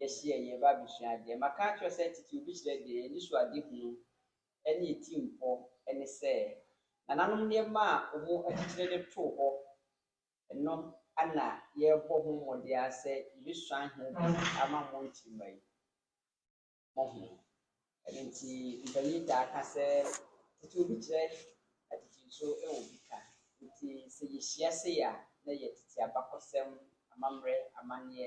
yɛhye yɛ yɛn ba abɛsua adeɛ. Maka akyerɛ wo sɛ titiriw bi kyerɛ deɛ anisoadehunu ne atirimpɔ ne sɛ nananom nneɛma a wɔn akyikyire de too hɔ no na yɛrebɔ ho mmɔden ara sɛ yɛbɛsuan ho bi ama mo nkyirimma yi. Mohu? Ɛno nti mpanyin taa ka sɛ titiriw bi kyerɛ atitiriw so wɔ bi ka. Nti sɛ yɛhyia sei a na yɛ tete abakɔsɛm, amammerɛ, amanneɛ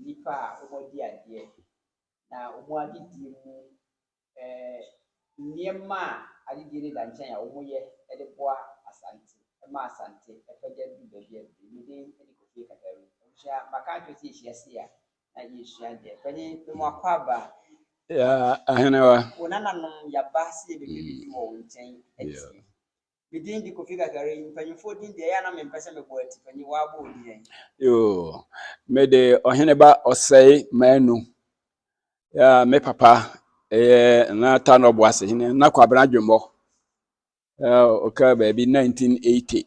nnipa a wɔadi adeɛ, na wɔn adedie mu nneɛma a adedie no da nkyɛn a wɔyɛ de boa Asante, ma Asante pagya du baabi a ɛduru. Me din de Kofi Kadaru. Abusua, maka akyerɛ sɛ yɛhyia se a na yɛsua deɛ. Pɛne memo akɔ aba. Ahenewa. Wo nananom yɛaba se yɛbɛbɛdidi wɔ wo nkyɛn atie. Me din de Kofi Kakari. Mpanyimfoɔ din deɛ, ɛyɛ a na mempɛ sɛ mebɔ ati. Panyin, woabɔ odin ɛ? Yoo, mede Ɔheneba Ɔsɛe Manu. Ya, me papa ɛyɛ na Tanɔ Boase hene, na Kwabena Dwemmɔ. Ya, ɔka baabi 1980.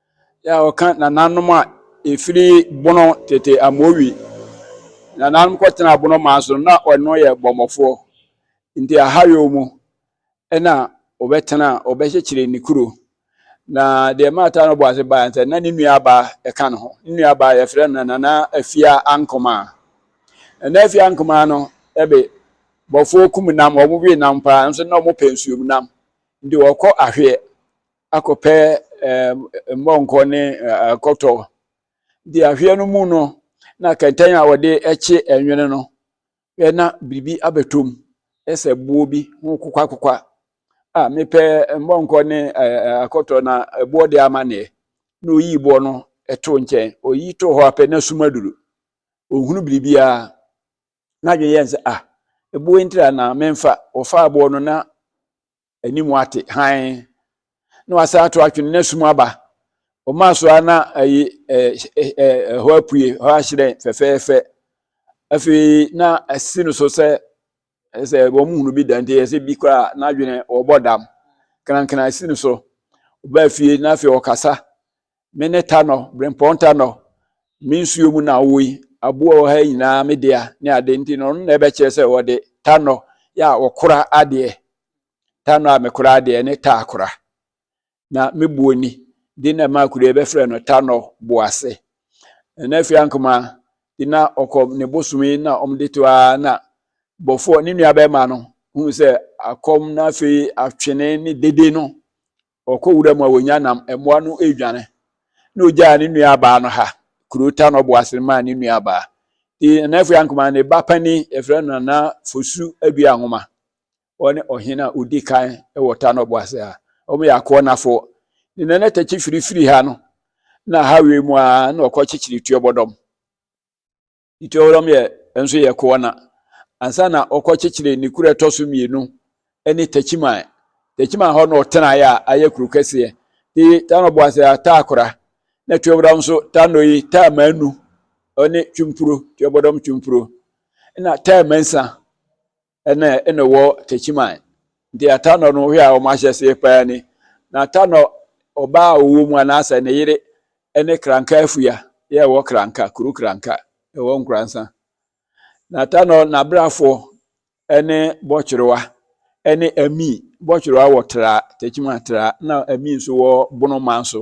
Yɛ a wɔka nananom a ɛfiri bono tete amowi. Nananom kɔtena bono maa so na ɔno yɛ bɔmmɔfoɔ. Nti ahayɔ mu ɛna ɔbɛtena ɔbɛkyekyere ne kuro. Na deɛ maata no bɔ ase baa sɛ na ne nua baa ɛka ne ho. Ne nua baa yɛfrɛ no nana afia ankomaa. Nana afia ankomaa no ɛbe bɔfoɔ kum nam wɔn we nam paa nso na wɔpɛ nsuom nam. Nti wɔkɔ ahweɛ. akɔpɛ mmɔnkɔ ne akɔtɔ de ahweɛ no mu no na kɛntɛn a wɔde kye nwene no na biribi abɛtɔ mu sɛ boɔ bi ho kokwakokwa a mepɛ mmɔnkɔ ne akɔtɔ na boɔ de ama neɛ na oyi boɔ no to nkyɛn oyi to hɔ apɛ na sum aduru ohunu biribiara n'adwene yɛn sɛ ah eboɔ ntira na memfa wɔfa aboɔ no na anim ate hann na wasan ato atwene na sum aba ɔmaa so a na ayi ɛhɔ apue hɔ ahyerɛn fɛfɛɛfɛ afei na asi no so sɛ sɛ wɔn hunu bi da nti ɛsɛ bi koraa n'adwene ɔbɔ dam krankran asi no so ɔbaa fie na afei ɔkasa me ne tanɔ brempɔn tanɔ me nsuo mu na ɔwɔ yi aboa wɔ ha nyinaa me dea ne ade nti no ɔno na ɛbɛkyerɛ sɛ wɔde tanɔ yɛ a wɔkora adeɛ tanɔ a mekora adeɛ ne ta akora na me buo ni de na ɛma akura bɛfrɛ no tanɔ boase ɛna afei ankoma de na ɔkɔ ne bosomi na wɔde to a na bɔfoɔ ne nua bɛrima no hu sɛ akɔm na afei atwene ne dede no Ɔkɔ wura mu a ɔnya nam, mmoa no redwane, na ɔgyaa ne nuabaa no ha, kuro ta no ɔbo ase no maa ne nuabaa. Nti Nana Afua Ankomah ne ba panin, yɛfrɛ no Nana Fosu Adua Nwoma, ɔne ɔhene a ɔdi kan wɔ ta no ɔbo ase ha. Wɔyɛ Akoɔnafoɔ. Ne Nana Takyi Firi firi ha no, na ha wei mu ara na ɔkɔkyekyere Tuobɔdɔm. Ituaoram yɛ nso yɛ Koana ansa na wɔkɔkyekyeree ne kuro a ɛtɔ so mmienu ne Techiman. Techiman hɔ na ɔtenaeɛ a ayɛ kuro kɛseɛ. Ti Tano Boase a taa kora na Tuaoram nso Tano yi taa manu ne Twumpuro, Tuabɔdɔm Twumpuro na taa mansa ɛna ɛna wɔ Techiman nti Atanɔ no hwɛ a wɔn ahyɛseɛ paa ni na Atanɔ ɔbaa a ɔwɔ mu anaasɛ ne yere ɛne Kranka afua yɛ ɛwɔ Kranka kuro Kranka ɛwɔ Nkoransa na Atanɔ n'abrafoɔ ɛne Bɔtwerewa ɛne Ami Bɔtwerewa wɔ Tra Techiman Tra na Ami nso wɔ Bonoman so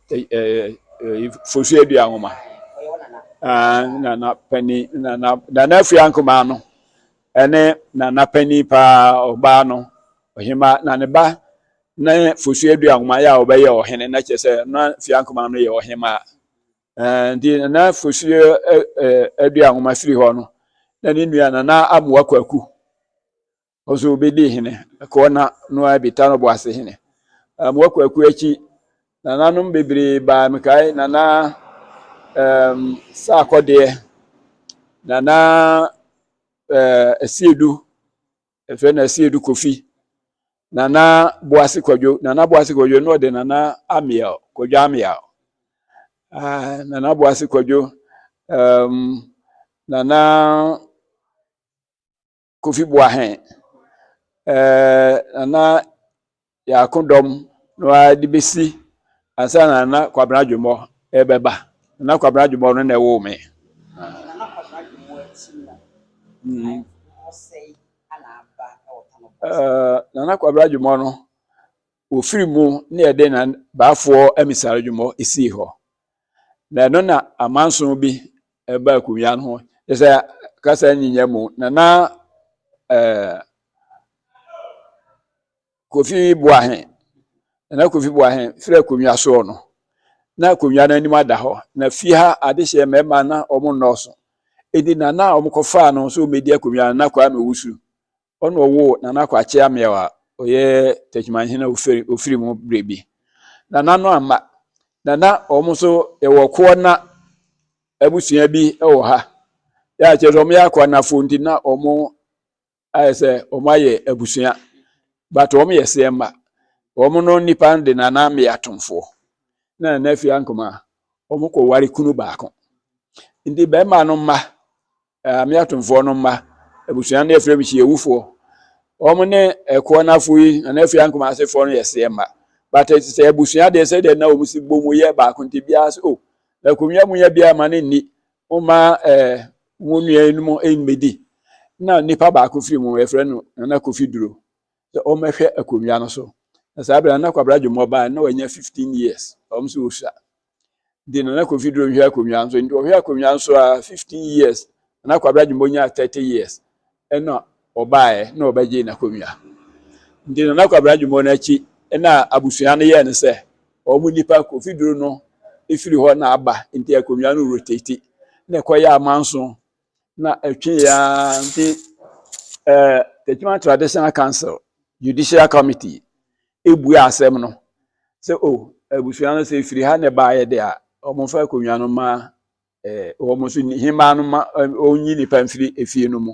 fosu adua nwoma na na panyin na na nana afia nkumaa no ɛne nana panyin paa ɔbaa no ɔhema na ne ba ne fosu adua nwoma yɛ a ɔbɛyɛ ɔhene na kyerɛ sɛ na afia nkumaa no yɛ ɔhema nti nana fosu adua nwoma firi hɔ no na ne nua nana amoa kwaku Ɔso obedi hene, ɛkɔɔ na no ara bi ta no boase hene. Um, wakɔ akuo akyi, nananom bebree baa mekae nana um, sɛ akɔdeɛ, nana uh, asiedu, ɛfɛ na asiedu kofi, nana boase kwadwo, nana boase kwadwo na ɔde nana amiel, kwadwo amiel, uh, nana boase kwadwo, um, nana Kofi Boahen, ɛɛ Nana Yaako dɔm no ara de bɛsi ansa na Nana Kwabena Adwommɔ ɛbɛba. Nana Kwabena Adwommɔ no na ɛwoo me. Nana Kwabena Adwommɔ akyi no, mm. ɔsɛe ana aba wɔ Tanobɔs? Nana Kwabena Adwommɔ no, Ofiri mu na yɛde na baafoɔ amisare dwomɔ sii hɔ. Na ɛno na amanso bi ɛba akunnwa no ho. Kyerɛ sɛ kasa nyinya mu na na eh, Kofi Boahe na Kofi Boahe firi akonnwa soɔ no na akonnwa no anim ada hɔ na fie ha adehyeɛ mmarima na wɔn nnɔɔso edi na na wɔkɔfaa no nso wɔbɛdi akonnwa no na Kwame Wusu Ɔna ɔwoo Nana Kwakye Ameaw a ɔyɛ Techimanhene a ofiri ofiri mu berɛ bi. Nana no amma. Nana wɔn nso yɛwɔ Koɔna abusua bi wɔ ha. Yɛ a kyerɛ sɛ wɔyɛ Akoɔnafoɔ nti na wɔn ayɛ sɛ wɔn ayɛ abusua but wɔn yɛ Seɛmma. Wɔn no nnipa no de Nana Ameaw Atomfoɔ na Nana Afie Ankomaa wɔn kɔ ware kunu baako. Nti bɛrima no mma Ɛɛ me atomfoɔ no mma abusua no yɛfrɛ me hyiawufoɔ wɔn ne ɛkoɔ no afo yi na afei ankoma asefoɔ no yɛ seɛ mma but sɛ abusua deɛ sɛ deɛ na wɔn si bɔ mu yɛ baako nti biara sɛ o oh, na akonnwa mu yɛ biara ma ne nni wɔma ɛɛ wɔn nua no mu mmɛdi na nipa baako firi mu yɛfrɛ no nana kofi duro sɛ wɔmɛhwɛ akonnwa no so na saa bɛrɛ na kwabra dwomɔ baa na wɔanya fifteen years wɔn so wɔsua de Nana Kofi Duro hwɛ akonnwa nso nti ɔhwɛ akonnwa nso a 15 years na Kwabra Jumbo nyaa 30 years ɛna ɔbaeɛ na ɔbɛgye n'akonnwa nti Nana Kwabra Jumbo no akyi ɛna abusua no yɛɛ no sɛ wɔn nipa Kofi Duro no ɛfiri hɔ na aba nti akonnwa no rotate na ɛkɔyɛ amanso na ɛtwe yɛ ara nti ɛɛ Techiman Traditional Council Judicial Committee ebua asɛm no sɛ o oh, abusua no sɛ efiri ha na ɛbaeɛ de a wɔmfa akonnwa no ma ɛɛ wɔn nso hemaa no ma wɔnyi nipa mfiri efie no mu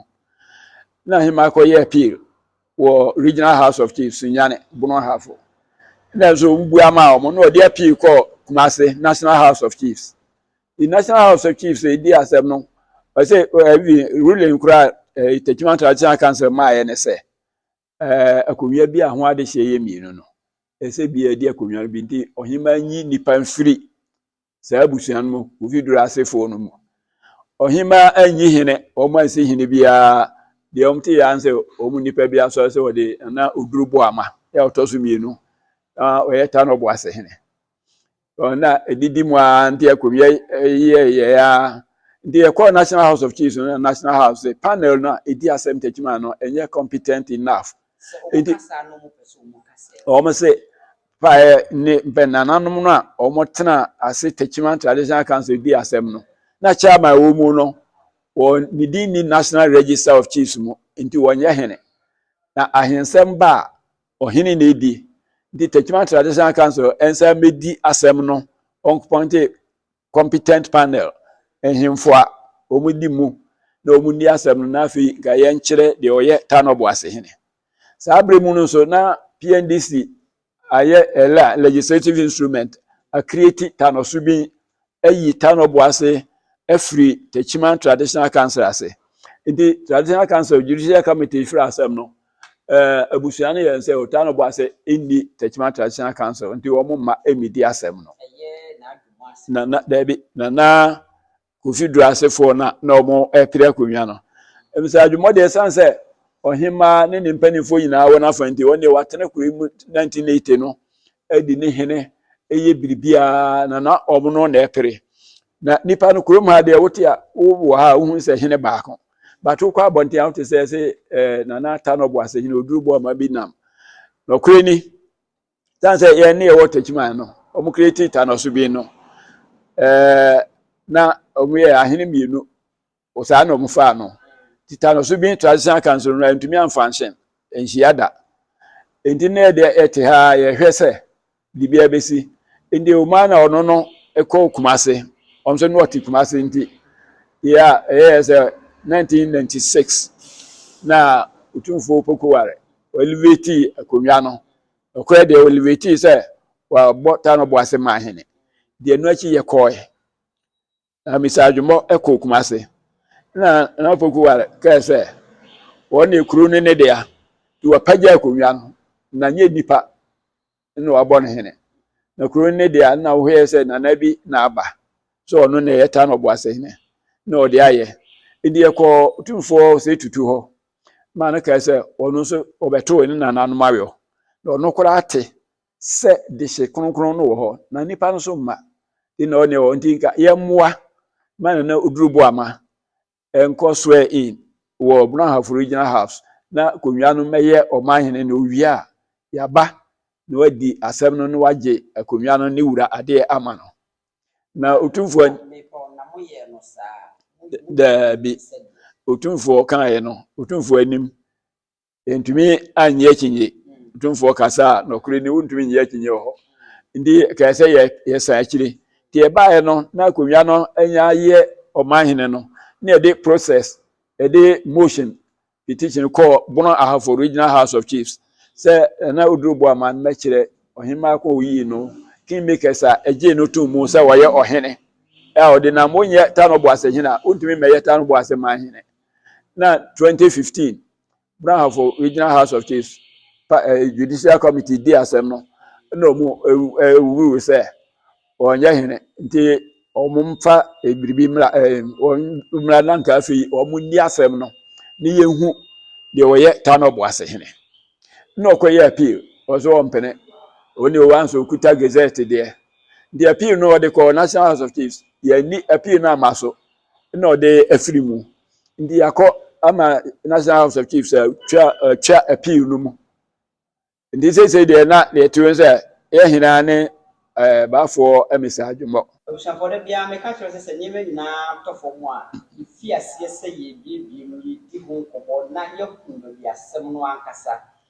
na hemaa kɔyɛ appeal wɔ Regional House of Chiefs Nyane Bono Ahafo na nso wobua ma wɔn na wɔde appeal kɔ Kumase National House of Chiefs the national house of chiefs edi asɛm no ɔsɛ ɛbi eh, eh, ruling kura ɛɛ eh, tetima traditional council maa yɛ ne sɛ ɛɛ akonnwa bi a ho adehyɛ yɛ mmienu no ɛsɛ bi ɛdi akonnwa no bi nti ɔhemaa nyi nipa nfiri saa abusua no mu ofi duro asefoɔ no mu ɔhemaa anyi hene wɔn ansi hene biara deɛ wɔn te yɛ ansɛ wɔn nipa bi asɔre sɛ wɔde na oduro bɔ ama yɛ ɔtɔ so mmienu na ɔyɛ tanɔ bɔ ase hene. na ɛdidi mu ara nti ɛkɔwiɛ yɛyɛ ara nti yɛkɔɔ national house of chiefs no national house sɛ panel no a ɛdi asɛm takyima no ɛnyɛ competent enough nti wɔn sɛ paɛ ne mpɛnananom no a wɔn tena ase takyima traditional council di asɛm no na chairman wɔ mu no wɔn ne din ni national register of chiefs mu nti wɔnyɛ hene na ahensɛm ba a Ɔhene na edi. Nti Techiman Traditional Council nsa mmedi asɛm no, wɔnkɔpɔnte competent panel, nhemfo a wɔdi mu na wɔnni asɛm no na afei nka yɛnkyerɛ deɛ ɔyɛ Tano Boase hene. Saa berɛ mu no nso na PNDC ayɛ ɛla legislative instrument, akreati Tano Subin ayi tanɔboa ase afiri Techiman Traditional Council ase. Nti Traditional Council Judicial Committee firi asɛm no, eh, abusua no yɛ nsɛ o, tanɔboa ase nni Techiman Traditional Council, nti wɔn mma mmedi asɛm no. Na na daabi, na na Kofi Duro asefoɔ na na wɔn ɛpere akonnwa no. Ebisa adwuma deɛ ɛsan sɛ ɔhemaa ne ne mpanimfoɔ nyinaa wɔn afa nti wɔn deɛ wɔatena kuro yi mu 1980 no adi ne hene yɛ biribiara na na wɔn no na ɛpere na nipa no kurom ha deɛ wote a wowɔ ha a wohu sɛ hene baako bato kɔ abɔnten a wote sɛ sɛ eh, nana ata no ɔboase hene oduru bɔ ɔma bi nam nɔkorɛ ni tan sɛ yɛn ne yɛwɔ takyiman no wɔn kura ti ta no so bi no eh, na wɔn yɛ ahene mmienu Wɔ saa na wɔfaa no. Tetanus bi, traditional cancer, no antumi amfa anhyɛ nhyia da. Enti na yɛde yɛte ha a yɛhwɛ sɛ biribiara bɛsi. Enti ɔmaa na ɔno no kɔɔ Kumase. Ɔno nso na ɔte Kumase nti yɛ a ɛyɛɛ sɛ 1996 na Otumfoɔ Opoku Ware ɔelevatii akonnwa no. Ɔkɔɛ deɛ ɔelevatii sɛ wabɔ Tano Boase maa hene. Deɛ ɛno akyi yɛkɔɔe. Na Mr. Adwommɔ kɔɔ Kumase na Nana Pokuware kae sɛ wɔn ne kuro no ne dea nti wapagya akonnwa no na nyɛ nipa na wabɔ no hene na kuro no ne dea na wohwɛ sɛ nana bi na aba sɛ ɔno na ɛyɛ ta na ɔbɔ ase hene na ɔde ayɛ nti yɛkɔɔ tumfoɔ sɛ tutu hɔ ma no kae sɛ ɔno nso ɔbɛtoo ne nananom awɔ na ɔno koraa te sɛ dehye kronkron no wɔ hɔ na nnipa no so mma de na ɔne wɔ nti nka yɛmmoa ma Nana Oduru Boama nkɔ swear in wɔ Brɔnhafo Regional House na konwa no mmɛyɛ ɔmanhene na owie a yɛaba na wadi asɛm no na wagye akonnwa no ne wura adeɛ ama no na otumfoɔ daabi otumfoɔ kaeɛ no otumfoɔ anim Yɛntumi anyɛ akyinnye. Tumfoɔ kasa a nɔkore ni wontumi nyɛ akyinnye wɔ hɔ. Nti kae sɛ yɛ yɛsan akyiri. Nti yɛbaeɛ no na akonnwa no anya yɛ ɔman hene no na yɛde process yɛde motion petition kɔɔ Bono Ahafo Regional House of Chiefs sɛ na oduro bɔ aman mɛkyerɛ ɔhemaa kɔn oyii no kingmakers a ɛgyee no tom mu sɛ wɔyɛ ɔhene a ɔde nam wonyɛ tanobɔ ase hene a wontumi mmɛyɛ tanobɔ ase man hene na 2015 Brahafo Regional House of Chiefs pa eh, Judicial Committee di asɛm no na wɔn ɛwuwu eh, sɛ wɔnyɛ hene nti wɔn mfa eh, biribi mmra eh, wɔn mmra na nka afei wɔn nni asɛm no ne yɛhu deɛ wɔyɛ Tano Boase hene na ɔkɔyɛ appeal wɔn so wɔn mpene wɔn deɛ wɔn nso kuta gazette deɛ nti appeal no wɔde kɔɔ National House of Chiefs yɛn ni appeal no ama so na ɔde afiri mu nti yɛakɔ ama national house of chiefs atwa atwa appeal no mu nti seesei deɛ na deɛ ɛte wɔn sɛ yɛ hena ne ɛɛ baafoɔ mmisa adwemmɔ. Abusuafoɔ da biara meka kyerɛ sɛ sɛ nneɛma nyinaa tɔ fam a yɛfi aseɛ sɛ yɛrebiebie mu yɛdi ho nkɔmmɔ na yɛahu baabi asɛm no ankasa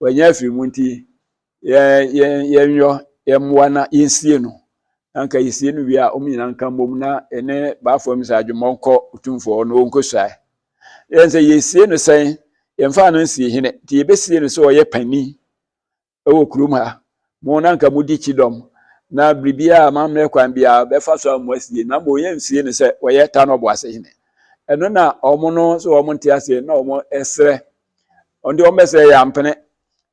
Wanya afiri mu nti, yɛnyɔ yɛn mmoa na yɛnsie no. Na nka yɛsie no wie a, wɔn nyinaa nka mmom na yɛne baafo Amisa Adwommɔ nkɔ Otumfoɔ na wɔnkɔsuae. Yɛn sɛ yɛsie no sɛn? Yɛmfaa no nsie hene nti yɛbɛsie no sɛ ɔyɛ panin wɔ kurom ha. Mo na nka modi kyidɔm na biribiara a mammrɛ kwan biara bɛfa so a mo asie na mmom yɛnsie no sɛ ɔyɛ Tano Ɔboase hene. Ɛno na wɔn no sɛ wɔn nte aseɛ na wɔn srɛ wɔn de wɔn bɛsɛ yɛ ampene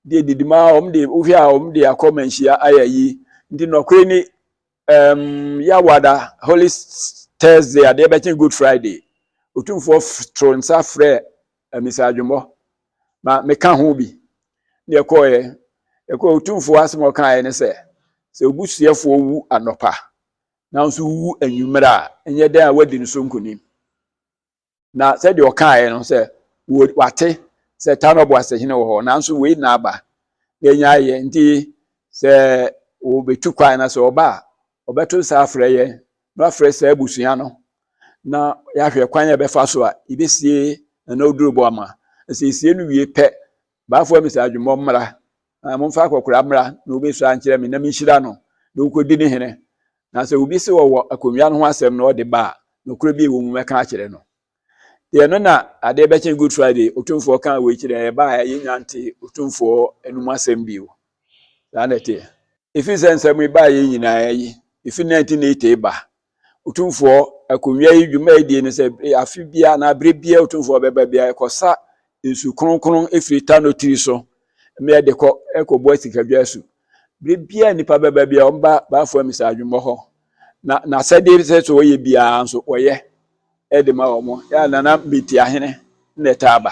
deɛ didi ma wɔn de wohwɛ a wɔn de akɔ manhyia ayɛ ayi nti nɔkore ni ɛɛm yawada holy thursday adeɛ bɛkyɛn good friday otumfoɔ toro nsa frɛ amisa adwumɔ ma meka ho bi deɛ kɔɔɛ ɛkɔ otumfoɔ asɛm ɔkaeɛ ne sɛ sɛ obusuafoɔ wu anɔpa nanso wu anwummerɛ a ɛnyɛ dɛn a wadi ne so nkonim Na sɛdeɛ ɔkaeɛ no sɛ wate sɛ Tano Boasehene wɔ hɔ nanso wei na aba na ɛnya ayɛ nti sɛ wɔbɛtu kwan na sɛ ɔba a ɔbɛto nsa afrɛ yɛn na wafrɛ saa abusua no na yɛahwɛ kwan a ɛbɛfa so a yɛbɛsie na na ɔduru bɔ ama na sɛ yɛsie no wie pɛ Bafua me sɛ adwemmɔ mmra, na momfa akɔkora mmra na wobɛsua nkyerɛ me na menhyira no na ɔnkɔdi ne hene. Na sɛ obi se ɔwɔ akonnwa no ho asɛm na ɔde ba a, nokorɛ bi a ɛwɔ mu mɛka akyerɛ no. Deɛ ɛno na adeɛ bɛkye Good Friday, Otumfoɔ kaa wei kyerɛɛ yɛn, ɛbaeɛ a yɛnnya ntee Otumfoɔ anom asɛm bio. Saa na ɛteɛ. Ɛfiri sɛ nsɛm yi baeɛ nyinaa yi, ɛfiri 1980 ba Otumfoɔ akonnwa yi dwumadie no sɛ afe biara anaa berɛ biara Otumfoɔ bɛba biara ɛkɔsa nsu kronkron firi Tano tiri so mmeɛ de kɔ ɛkɔbɔ asikadwa asu. Berɛ biara nnipa bɛba biara wɔba Baafo Amisa adwummɔ hɔ na n'asɛdeɛ sɛ sɛ wɔyɛ biara nso wɔyɛ de ma wɔn. Yɛ a Nana Metiahene na ɛtaa ba.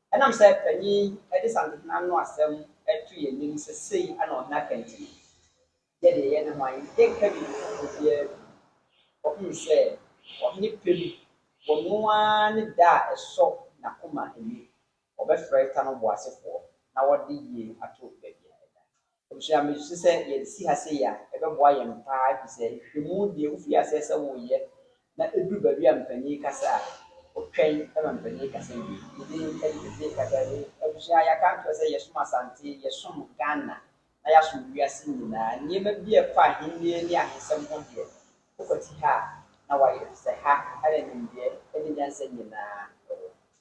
Ɛnam sɛ panyin yi de Santehene no asɛm to yɛn anim sɛ sei na ɔhene aka nti no, yɛ deɛ yɛne hwan? Yɛnka biribi foforɔ biara bio. Wɔhunu sɛ ɔhene pɛ mu, wɔno ara ne da a ɛsɔ n'akoma ani. Wɔbɛfrɛ ta no boasefoɔ na wɔde yie ato baabi a ɛda. Abusua, misusu sɛ yɛde si ha sei a, ɛbɛboa yɛn paa efisɛ nhwehwɛmu deɛ wofiri aseɛ sɛ woreyɛ na ɛduru baabi a mpanin rekasa a, wotwɛn ma mpanin rekasa wie. Ne din de Tete Kasae. Abusua, yɛaka akyerɛ sɛ yɛsom Asante, yɛsom Ghana, na yɛasom wiase nyinaa. Nneɛma bi a ɛfa Ahennie ne ahensɛm ho deɛ, wokwati ha a, na woayɛ efisɛ ha na nimdeɛ ne nyansa nyinaa wɔ.